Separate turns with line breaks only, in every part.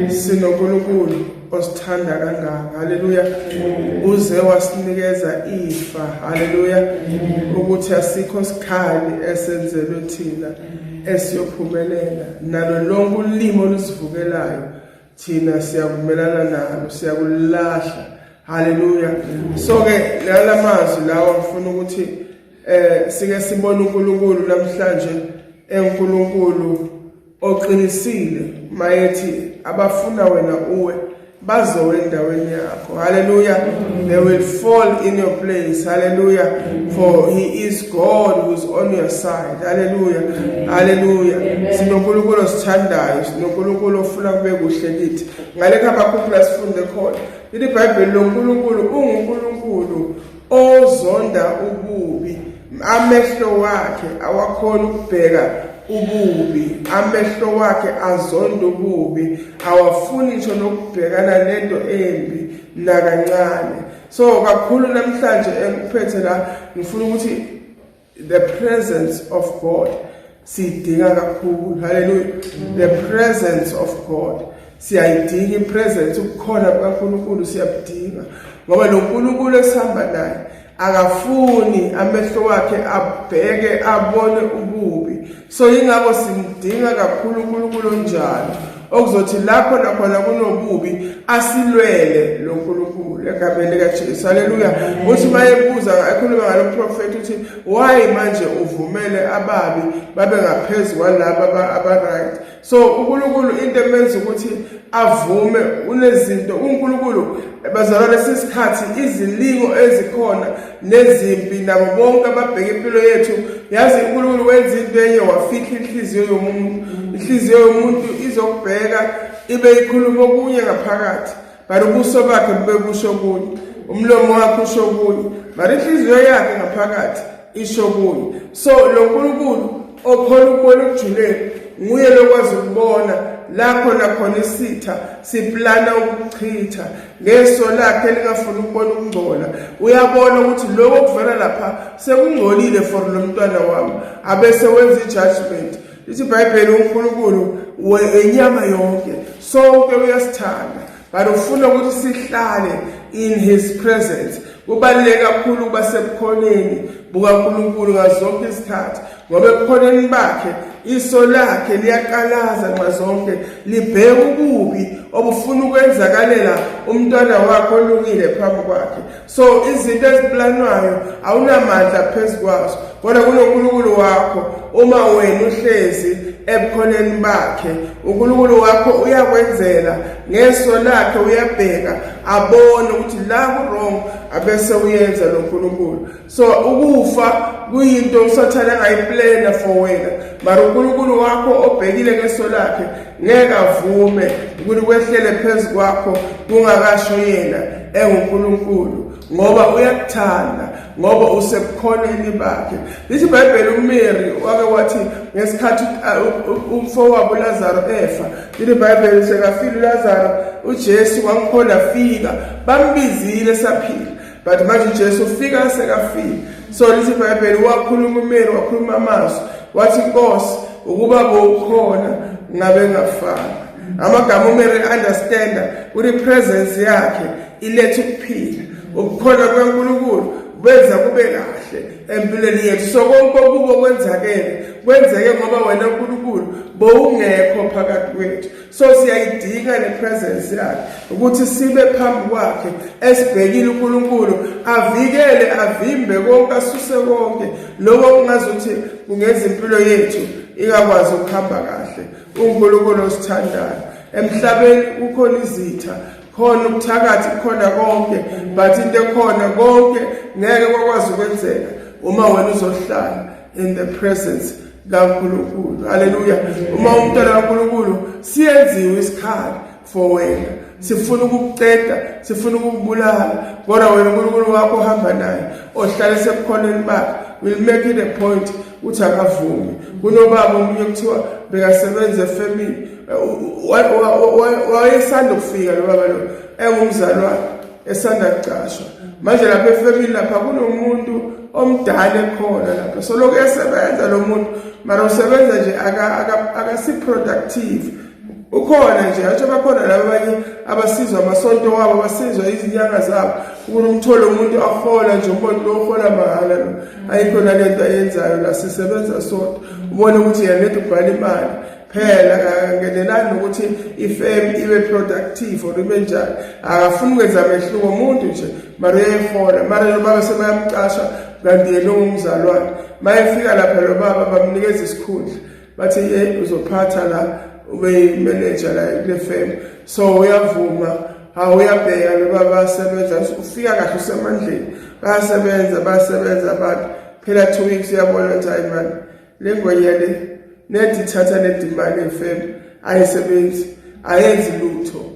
sinonkulunkulu osithanda kangaka haleluya uze wasinikeza ifa haleluya ukuthi asikho sikhali esenzelwe thina esiyophumelela nalo lonke ulimo olusivukelayo thina siyavumelana nalo siyakulahla haleluya so ke lala mazwi lawa ngifuna ukuthi eh sike sibone uNkulunkulu namhlanje eNkulunkulu Oqinisile mayethi abafuna wena uwe bazowe endaweni yakho haleluya they will fall in your place haleluya for he is god who is on your side haleluya haleluya sinonkulunkulu osithandayo sinonkulunkulu ofuna kube kuhle kithi ngalekho abakhuphula sifunde khona leli bhayibheli lonkulunkulu ungunkulunkulu ozonda ububi amehlo wakhe awakhona ukubheka ububi amehlo wakhe azonda ububi awafuni ngisho nokubhekana nento embi nakancane so kakhulu namhlanje engikuphethe la ngifuna ukuthi the presence of god siyidinga kakhulu haleluya the presence of god siyayidinga ipresence ukukhona kukaNkulunkulu siyabudinga ngoba lo Nkulunkulu esihamba naye akafuni amehlo wakhe abheke abone ububi so yingakho simdinga kakhulu uNkulunkulu onjalo okuzothi lapho nakhona kunobubi asilwele lo Nkulunkulu egameni likaJesu haleluya uthi mayebuza ekhuluma ngaloprofeti uthi why manje uvumele ababi babe ngaphezulu kwalaba abaright so uNkulunkulu into emenza ukuthi avume unezinto uNkulunkulu bazalwane sisikhathi izilingo ezikhona nezimpi nabo bonke ababheka impilo yethu yazi uNkulunkulu wenza into enye wafihla inhliziyo yomuntu inhliziyo yomuntu izokubheka ibe ikhuluma okunye ngaphakathi Mara ubuso bakhe bube busho kuye, umlomo wakhe usho kuye, mara inhliziyo yakhe ngaphakathi isho kuye. So lo Nkulunkulu okhona ukubona ukujuleni nguye lokwazi ukubona lapho nakhona isitha siplana ukuchitha ngeso lakhe elingafuni ukubona ukungcola uyabona ukuthi lokho kuvela lapha sekungcolile for lo mntwana wami abese wenza i-judgment lithi ibhayibheli unkulunkulu wenyama yonke sonke uyasithanda but ufuna ukuthi sihlale in his presence kubaluleke kakhulu ukuba sebukhoneni bukankulunkulu ngazonke izikhathi ngoba ebukhoneni bakhe iso lakhe liyaqalaza nxa zonke libheke ububi obufuna ukwenzakalela umntwana wakhe olungile phambi kwakhe so izinto eziplanwayo awunamandla phezu kwazo kodwa kunonkulunkulu wakho uma wena uhlezi ebukhoneni bakhe unkulunkulu wakho uyakwenzela ngeso lakhe uyabheka abone ukuthi la ku-wrong abese uyenza lo nkulunkulu so ukufa kuyinto usathane angayiplena for wena mara unkulunkulu wakho obhekile ngeso lakhe ngeke avume ukuthi kwehlele phezu kwakho kungakasho yena enguNkulunkulu ngoba uyakuthanda ngoba usebukhoneni bakhe lithi ibhayibheli umary wake wathi ngesikhathi uh, umfowabo ulazaro efa lithi ibhayibheli sekafile ulazaro ujesu wangikhona fika bambizile saphila but manje ujesu ufika sekafika so lithi ibhayibheli wakhuluma umeli wakhuluma amazwi wathi inkosi ukuba bowukhona ngabe ngafana amagama umele understanda ukuthi presence yakhe iletha ukuphila ukukhona kwaNkulunkulu benza kube kahle empilweni yethu so konke okubo kwenzakele kwenzeke ngoba wena uNkulunkulu bowungekho phakathi kwethu so siyayidinga le presence yakhe ukuthi sibe phambi kwakhe esibhekile uNkulunkulu avikele avimbe konke asuse konke lokho kungazothi kungenza impilo yethu ikakwazi ukuhamba kahle uNkulunkulu osithandayo emhlabeni kukhona izitha khona ubuthakathi khona konke but into ekhona konke ngeke kwakwazi ukwenzeka uma wena uzohlala in the presence kaNkulunkulu haleluya uma umntwana kaNkulunkulu siyenziwe isikhali for wena sifuna ukukuceda sifuna ukukubulala kodwa wena uNkulunkulu wakho ohamba naye ohlale sebukhoneni bakhe will make it a point ukuthi akavumi kunobaba omunye kuthiwa bekasebenza efamily wayesanda ukufika lo baba lo engumzali wakhe esanda kucashwa manje lapha efemini lapha kunomuntu omdala ekhona lapha so lokhu esebenza lo muntu mara usebenza nje akasi-productive ukhona nje athi bakhona laba abanye abasizwa amasonto wabo abasizwa izinyanga zabo ukuthi umthole umuntu ahola nje umuntu lo uhola mahhala lo ayikho nalento ayenzayo la sisebenza sodwa ubone ukuthi yena nento ubhala imali phela akangenelani nokuthi ifem ibe productive or ibe njani akafuni ukwenza mehluko umuntu nje mara uyayihola mara lo baba sebayamcasha kanti yena ungumzalwane ma efika lapha lo baba bamnikeza isikhundla bathi ye uzophatha la ube yimeneja la kule fem so uyavuma hawu uyabheka lo baba basebenza ufika kahle usemandleni bayasebenza bayasebenza abantu phela two weeks uyabona ukuthi hayi mani le ngwenya le nethi thatha nedimane fem ayisebenzi ayenzi lutho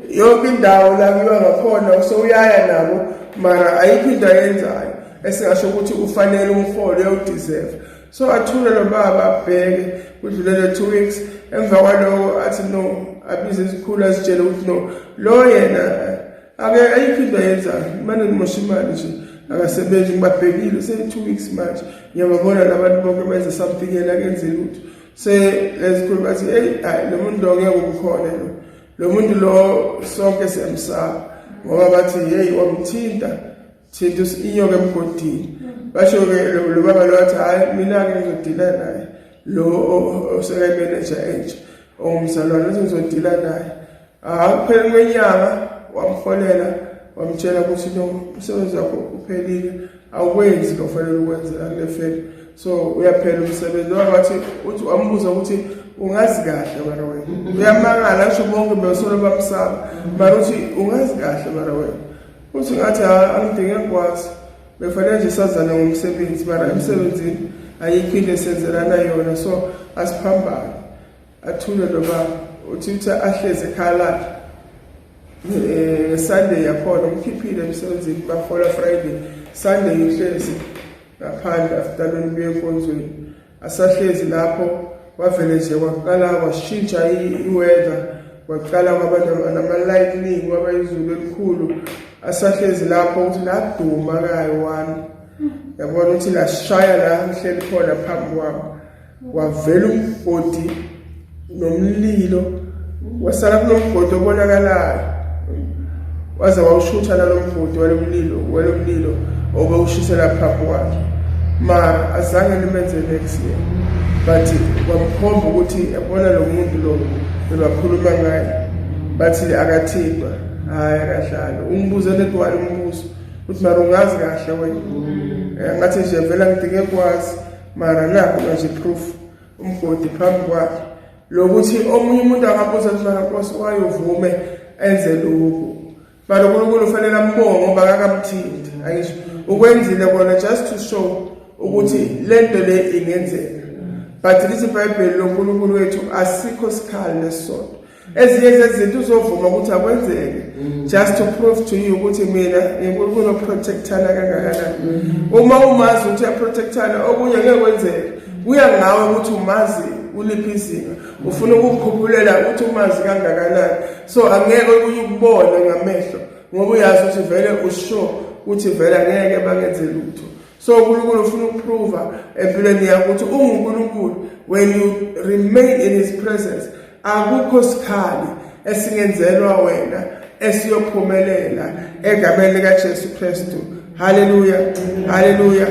yonke indawo la kuyiwa ngakhona usowuyaya nabo mara ayikho into ayenzayo esingasho ukuthi ufanele umholo uyawudeserve so athule lo baba abheke kudlulele two weeks emva kwaloko athi no abize izikhulu azitshele ukuthi no lo yena ake ayikho into ayenzayo imane nimosha imali nje akasebenzi ngibabhekile seyi-two weeks manje ngiyababona labantu bonke benze something yena kenze lutho se ezikhulu bathi eyi hayi lo muntu lo ngeke ubukhona lo lo muntu lo sonke siyamsaba ngoba bathi yeyi wamthinta Thinta inyoka emgodini. Basho ke lo baba lo wathi hayi mina ke ngizodila naye. Lo oseka manager entsha ongumzalwane uthi ngizodila naye. Hayi kuphela kwenyanga wamfolela wamtshela ukuthi no umsebenzi wakho uphelile awukwenzi lo fanele ukwenze akule fela so uyaphela umsebenzi noma bathi uthi wambuza ukuthi ungazi kahle mara wena uyamangala asho bonke besolo bamsaba mara uthi ungazi kahle mara wena Uthi ngathi ha angidinge ngikwazi. Befanele nje sazana ngomsebenzi mara emsebenzini ayikho into esenzelana yona so asiphambane. Athule lo baba uthi uthi ahleze ekhaya lakhe. Eh Sunday yakhona umkhiphile emsebenzini bafola Friday. Sunday uhlezi ngaphandle after lolu buye enkonzweni. asahlezi lapho kwavele nje kwaqala kwashintsha iweather kwaqala kwaba nama-lightning kwaba izulu elikhulu asahlezi lapho ukuthi laduma kayo wami yabona ukuthi lashaya la ngihleli khona phambi kwami wavela umgodi nomlilo wasala kunomgodi obonakalayo waze wawushutha nalomgodi walomlilo walomlilo obewushisela phaphu wakhe mara azange limenze next year but kwamkhomba ukuthi yabona lo muntu lo bebakhuluma ngaye bathi akathintwa hhayi akahlali ungibuze nedwala umbuzo ukuthi mara ungazi kahle wena eh, ngathi nje vela ngidinge kwazi mara nakho manje proof umgodi phambi kwakhe lokuthi omunye umuntu angabuza mfana nkosi wayovume enze lokhu but unkulunkulu ufanele ambonge ngoba akakamthindi angisho ukwenzile kona just to show ukuthi le nto le ingenzeka but lithi ibhayibheli lonkulunkulu wethu asikho sikhali nesisodwa ezinye zezinto uzovuma ukuthi akwenzeke mm. just to prove to you ukuthi mina nginkulunkulu oprotectana kangakanani mm. uma umazi ukuthi uyaprotectana okunye ngeke kwenzeke kuya ngawe ukuthi umazi uliphi izinga ufuna ukukhuphulela ukuthi umazi kangakanani so angeke okunye ukubone ngamehlo ngoba uyazi ukuthi vele usho ukuthi vele angeke bangenze lutho so unkulunkulu ufuna ukuprova empilweni yakho ukuthi ungunkulunkulu when you remain in his presence akukho sikhali esingenzelwa wena esiyophumelela egameni likaJesu Kristu haleluya haleluya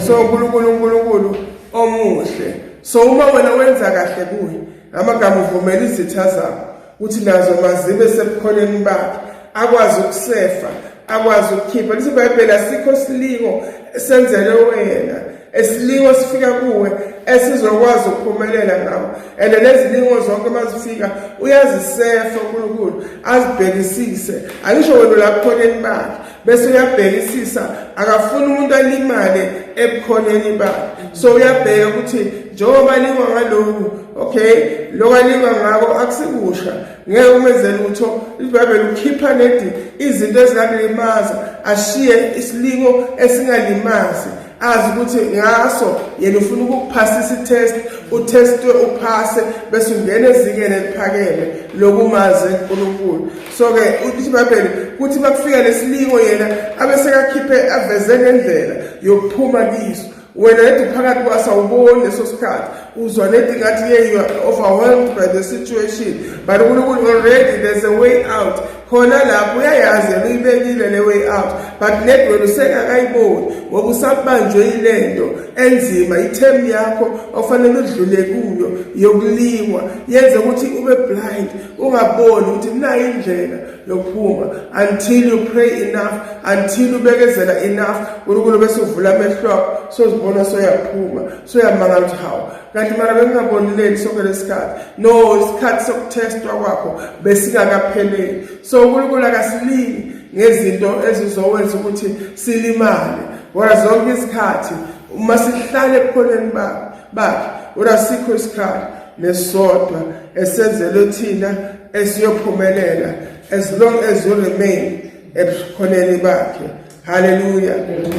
so uNkulunkulu uNkulunkulu omuhle so uma wena wenza kahle kuye amagama uvumela izitha zakho ukuthi nazo mazibe sebukhoneni bakhe akwazi ukusefa akwazi ukukhipha lithi ibhayibheli asikho silingo esenzele wena esilingo sifika kuwe esizokwazi ukuphumelela ngawo and nezilingo zonke mazifika uyazisefa uNkulunkulu azibhekisise angisho wena lapho khoneni bakhe bese uyabhekisisa akafuni umuntu alimale ebukhoneni bakhe so uyabheka ukuthi njengoba lingwa ngaloku okay lokho alingwa ngako akusikusha ngeke umenze lutho ibhayibheli ukhipha nedi izinto ezingalimaza ashiye isilingo esingalimazi azi ukuthi ngaso yena ufuna ukukuphasisa itest utestwe uphase bese ungena ezingeni eliphakeme lokumaze uNkulunkulu so-ke ukuthi ibhayibheli kuthi makufika lesilingo yena abesekakhiphe aveze ngendlela yokuphuma kiso wena nedi phakathi kwase awuboni leso sikhathi uzwa nedi ngathi ye you are overwhelmed by the situation but unkulunkulu already there's a way out khona lapho uyayazi yena uyibekile le way out but nedi wena usengakayiboni ngoba usabanjwe yile nto enzima ithemu yakho ofanele udlule kuyo yokulingwa yenze ukuthi ube blind ungaboni ukuthi kunayo indlela yokuphuma until you pray enough until ubekezela enough unkulunkulu bese uvula amehlo akho sozibona soyaphuma soyamanga ukuthi hawu kanti mara bengingabonileli sonke lesikhathi no isikhathi sokuthestwa kwakho besingakapheleli so unkulunkulu akasilingi ngezinto ezizowenza ukuthi silimale wona zonke izikhathi uma sihlale ebukhoneni bakhe bakhe wona sikho isikhathi nesodwa esenzelwe thina esiyophumelela as long as you remain ebukhoneni bakhe haleluya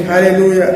haleluya